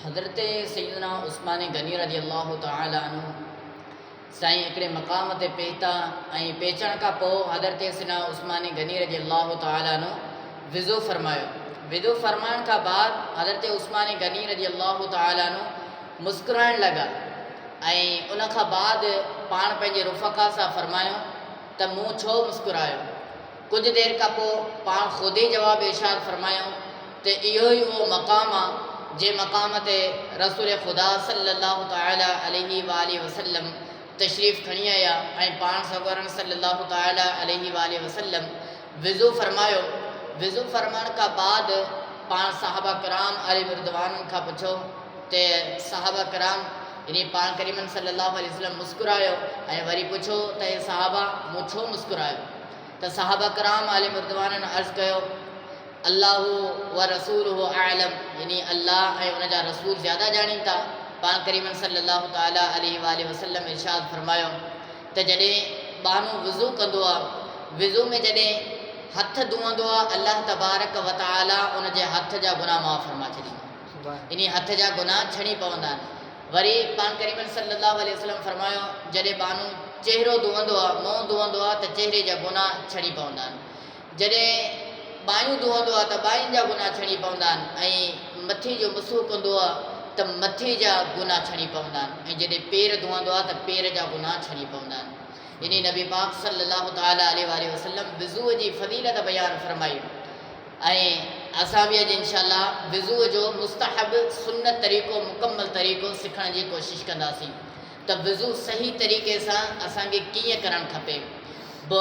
حضرت سيدنا عثمان غني رضي الله تعالٰي عنه سائين هڪڙي مقام تي پهتا ۽ پهچڻ کان پوء حضرت سيدنا عثمان غني رضي الله تعالٰي عنه وضو فرمايو وضو فرمائڻ کان بعد حضرت عثمان غني رضي الله تعالٰي عنه مسڪرائڻ لڳا ۽ ان کان بعد پاڻ پنهنجي رفقا سان فرمايو ته مون ڇو مسڪرايو ڪجهه دير کان پوء پاڻ خود ئي جواب ارشاد فرمايائون ته اهو ئي اهو مقام آ، جنهن مقام تي رسول خدا صلّي اللّٰه تعالٰي عليه واٰله وسلّم تشريف کڻي آيا ۽ پاڻ سڳورن صلّي اللّٰه تعالٰي عليه واٰله وسلّم وضو فرمايو، وضو فرمائڻ کان بعد پاڻ صحابه ڪرام عليهم الرّضوان کان پڇيو ته صحابه ڪرام يعني پاڻ ڪريمن صلّي اللّٰه عليه وسلّم مسڪرايو ۽ وري پڇيو ته اي صحابه مون ڇو مسڪرايو؟ ته صحابه ڪرام عليهم الرضوان عرض ڪيو، الله ورسوله اعلم يعني الله ۽ ان جا رسول زياده ڄاڻين ٿا. پاڻ ڪريم صلّي الله تعالٰي عليه واٰله وسلّم ارشاد فرمايو ته جڏهن ٻانهو وضو ڪندو آهي، وضو ۾ جڏهن هٿ ڌوئندو آهي الله تبارڪ وتعالٰي ان جي هٿ جا گناهه معاف فرمائي ڇڏيندو آهي يعني هٿ جا گناهه ڇڻي پوندا آهن. وري پاڻ ڪريمن صلّي اللّٰه عليه وسلّم فرمايو، جڏهن ٻانهو چهرو ڌوئندو آهي، منهن ڌوئندو آهي ته چهري جا گناهه ڇڻي پوندا آهن. جڏهن ٻانهيون ڌوئندو آهي ته ٻانهين جا گناهه ڇڻي پوندا آهن ۽ مٿي جو مسحو ڪندو آهي ته مٿي جا گناهه ڇڻي پوندا آهن ۽ جڏهن پير ڌوئندو آهي ته پير جا گناهه ڇڻي پوندا آهن. يعني نبي پاڪ صلّي اللّٰه تعالٰي عليه واٰله وسلّم وضوء جي فضيلت بيان فرمائي. ۽ اسان به اڄ انشاء الله وضوء جو مستحب سنت طريقو مڪمل طريقو سکڻ جي ڪوشش ڪنداسين ته وضوء صحيح طريقي سان اسان کي ڪيئن ڪرڻ کپي ب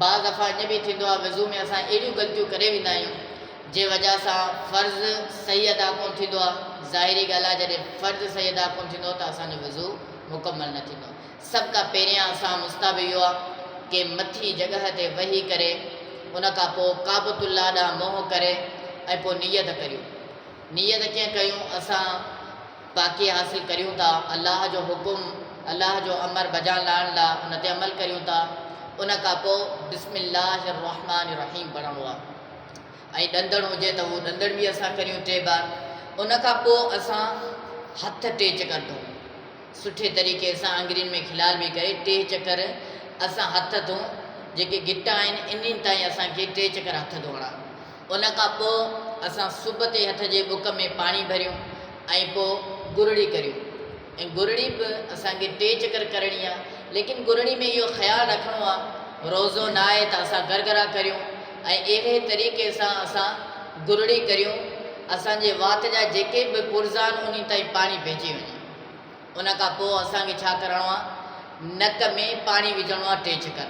بعض دفعا اڃ به ٿيندو آهي وضوء ۾ اسان اهڙيون غلطيون ڪري ويندا آهيون جنهن وجه سان فرض صحيح ادا ڪون ٿيندو آهي ظاهري ڳالهه آهي جڏهن فرض صحيح ادا ڪون ٿيندو ته اسان جو وضوء مڪمل نه ٿيندو سڀ کان پهريان اسان مستحب اهو آ ڪي مٿين جڳهه تي وهي ڪري ان کان پوء ڪعبت الله ڏانهن منهن ڪري ۽ پوء نيت ڪريون. نيت ڪيئن ڪيون اسان پاڪي حاصل ڪريون ٿا الله جو حڪم الله جو امر بجا لاڻ لا ان تي عمل ڪريون ٿا ان کان پوء بسم الله الرحمٰن الرحيم پڙهڻو آ ۽ ڏندڻ هجي ته اهو ڏندڻ به اسان ڪريون ٽي بار ان کان پوء اسان هٿ ٽيچ ڪندون. سٺي طريقي سان آڱرين ۾ کلال به ڪري ٽي چڪر اسان هٿ ڌون جيڪي گٽا آهن انهن تائين اسان کي ٽي چڪر هٿ ڌوئڻا ان کان پوء اسان سب تي هٿ جي بڪ ۾ پاڻي ڀريون ۽ پوء گرڙي ڪريون ۽ گرڙي به اسان کي ٽي چڪر ڪرڻي آ ليڪن گرڙي ۾ اهو خيال رکڻو آ روزو نه آهي ته اسان گرگرا ڪريون ۽ اهڙي طريقي سان اسان گرڙي ڪريون اسان جي وات جا جيڪي به پرزا آهن انهن تائين پاڻي پهچي وڃي. ان کان پوء اسان کي ڇا ڪرڻو آ نڪ ۾ پاڻي وجهڻو آ ٽي ڇڪر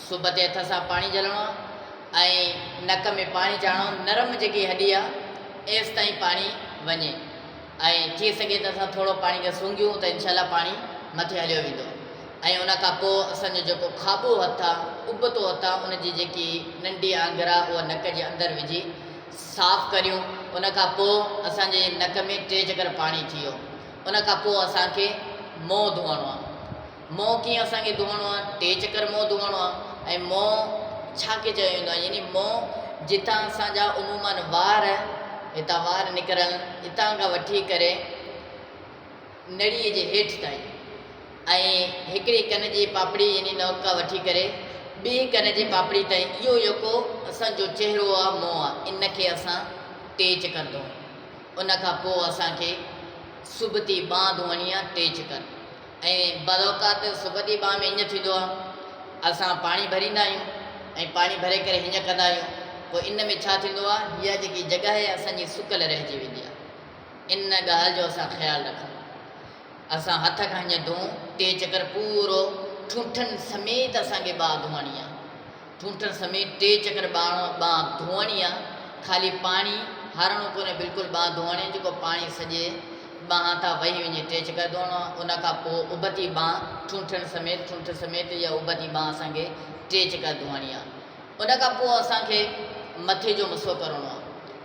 صبح تي هٿ سان پاڻي جهلڻو آ ۽ نڪ ۾ پاڻي چاڙهڻو نرم جيڪي هڏي آ ايس تائين پاڻي وڃي ۽ ٿي سگهي ته اسان ٿورو پاڻي کي سونگهيون ته انشاء الله پاڻي مٿي هليو ويندو ۽ ان کان پوء اسان جو جيڪو کاٻو هٿ آ ابتو هٿ آ ان جي جيڪي ننڍي آنگر آ اها نڪ جي اندر وجهي صاف ڪريون ان کان پوء اسان جي نڪ ۾ ٽي چڪر پاڻي ٿي ويو ان کان پوء اسان کي منهن ڌوئڻو آهي منهن ڪيئن اسان کي ڌوئڻو آهي ٽي چڪر منهن ڌوئڻو آهي ۽ منهن ڇا کي چيو ويندو آهي يعني منهن جتان اسان جا عموماً وار هتان وار نڪرن اتان کان وٺي ڪري نڙيء جي هيٺ تائين ۽ هڪڙي ڪن جي پاپڙي يعني نئوڪا وٺي ڪري ٻئي ڪن جي پاپڙي تائين اهو يڪو اسان جو چهرو آ منهن آ ان کي اسان ٽيچ ڪندون ان کان پوء اسان کي سبتي ٻانهن ڌوئڻي آ ٽيچ ڪن ۽ بذوقات سبتي ٻانهن ۾ هينئن ٿيندو آ اسان پاڻي ڀريندا آهيون ۽ پاڻي ڀري ڪري هينئن ڪندا آهيون پوء ان ۾ ڇا ٿيندو آ هيء جيڪي جڳهه آهي اسان جي سڪل رهجي ويندي آ. ان ڳالهه جو اسان خيال رکون. اسان هٿ کان هيئن ڌون، ٽي چڪر پورو ٺونٺن سميت اسان کي ٻانهن ڌوئڻي آ. ٺونٺن سميت ٽي چڪر ٻانهن ڌوئڻي آ. خالي پاڻي هارڻو ڪونهي بلڪل ٻانهن ڌوئڻي جيڪو پاڻي سڄي ٻانهن تان وهي وڃي ٽي چڪر ڌوئڻو آ. ان کان پوء اڀتي ٻانهن ٺونٺن سميت ٺونٺ سميت اها اڀتي ٻانهن اسان کي ٽي چڪر ڌوئڻي آ. ان کان پوء اسان کي مٿي جو مسحو ڪرڻو آ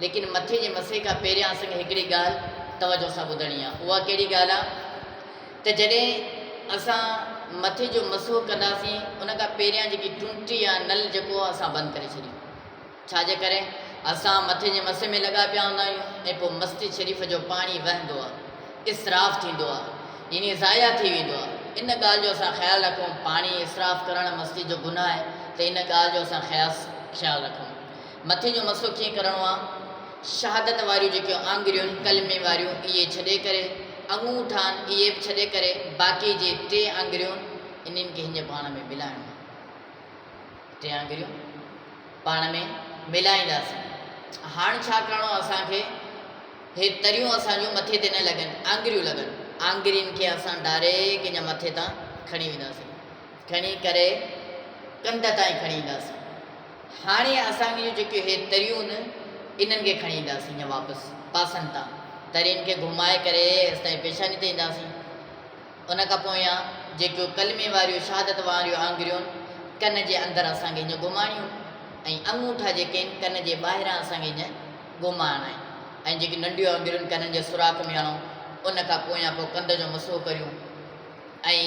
ليڪن مٿي جي مسحي کان پهريان اسان کي هڪڙي ڳالھ توجه سان ٻڌڻي آ اها ڪهڙي ڳالھ آ ته جڏهن اسان مٿي جو مسحو ڪنداسين ان کان پهريان جيڪي ٽونٽي يا نل جيڪو آ اسان بند ڪري ڇڏيون ڇا جي ڪري اسان مٿي جي مسحي ۾ لڳا پيا هوندا آهيون ۽ پوء مسجد شريف جو پاڻي وهندو آ اسراف ٿيندو آهي يعني ضايع ٿي ويندو آهي ان ڳالهه جو اسان خيال رکون پاڻي اسراف ڪرڻ مسجد جو گناهه آهي ته ان ڳالهه جو اسان خياص خيال رکون مٿي جو مسو ڪيئن ڪرڻو آهي شهادت واريون جيڪيون آنگريون ڪلمي واريون اهي ڇڏي ڪري انگوٺا آهن اهي به ڇڏي ڪري باقي جي ٽي آنگريون انهن کي هنجي پاڻ ۾ ملائڻو آهي ٽي آڱريون پاڻ ۾ ملائينداسين. هاڻ ڇا ڪرڻو اسان کي هي تريون اسان جون مٿي تي نه لڳن آڱريون لڳن آڱرين کي اسان ڊاريڪ انجا مٿي تان کڻي وينداسين کڻي ڪري ڪنڌ تائين کڻي اينداسين هاڻي اسان جون جيڪيون هي تريون انهن کي کڻي اينداسين انجا واپس پاسن تان ترين کي گهمائي ڪري استائين پيشاني تي اينداسين. ان کان پويان جيڪو ڪلمي واريون شهادت واريون آڱريون ڪن جي اندر اسان کي هيئن گهمائڻيون ۽ اڱوٺا جيڪي آهن ڪن جي ٻاهران اسان کي هيئن گهمائڻا آهن ۽ جيڪي ننڍيون آڱريون ڪنن جي سوراخ ۾ هڻون ان کان پويان پوء ڪنڌ جو مسحو ڪريون ۽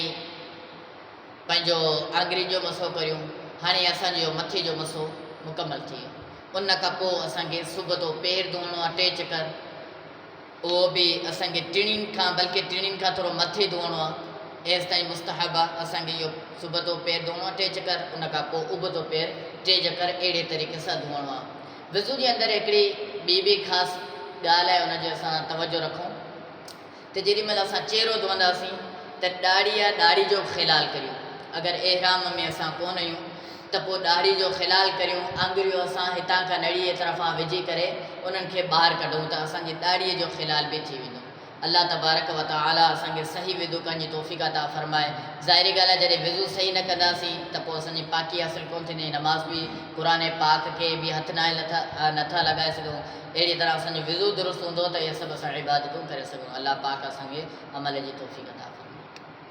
پنهنجو آڱرين جو مسحو ڪريون هاڻي اسان جو مٿي جو مسحو مڪمل ٿي ويو ان کان پوء اسان کي صبح تو پير ڌوئڻو آهي ٽي چڪر اهو به اسان کي ٽڻين کان بلڪه ٽڻين کان ٿورو مٿي ڌوئڻو آهي ايستائين مستحب آهي اسان کي اهو سبتو پير ڌوئڻو آهي ٽي چڪر ان کان پوء ابتو پير ٽي چڪر اهڙي طريقي سان ڌوئڻو آهي وضو جي اندر هڪڙي ٻي به خاص ڳالهه آهي ان جو اسان توجه رکون ته جيڏي مهل اسان چهرو ڌوئنداسين ته ڏاڙهي يا ڏاڙهي جو خلال ڪريون اگر احرام ۾ اسان ڪون آهيون ته پوء ڏاڙهي جو خلال ڪريون، آڱريون اسان هتان کان نڙيء طرفان وجهي ڪري انهن کي ٻاهر ڪڍون ته اسان جي ڏاڙهي جو خلال به ٿي ويندو. الله تبارڪ و تعاليٰ اسان کي صحيح وضو ڪرڻ جي توفيق عطا فرمائي. ظاهري ڳالهه آهي جڏهن وضو صحيح نه ڪنداسين ته پوء اسان جي پاڪي حاصل ڪونه ٿيندي ۽ نماز به قرآن پاڪ کي به هٿ ناهي لٿا نٿا لڳائي سگهون. اهڙيء طرح اسان جو وضو درست هوندو ته اهي سڀ اسان عبادتون ڪري سگهون. الله پاڪ اسان کي عمل جي توفيق عطا فرمائي.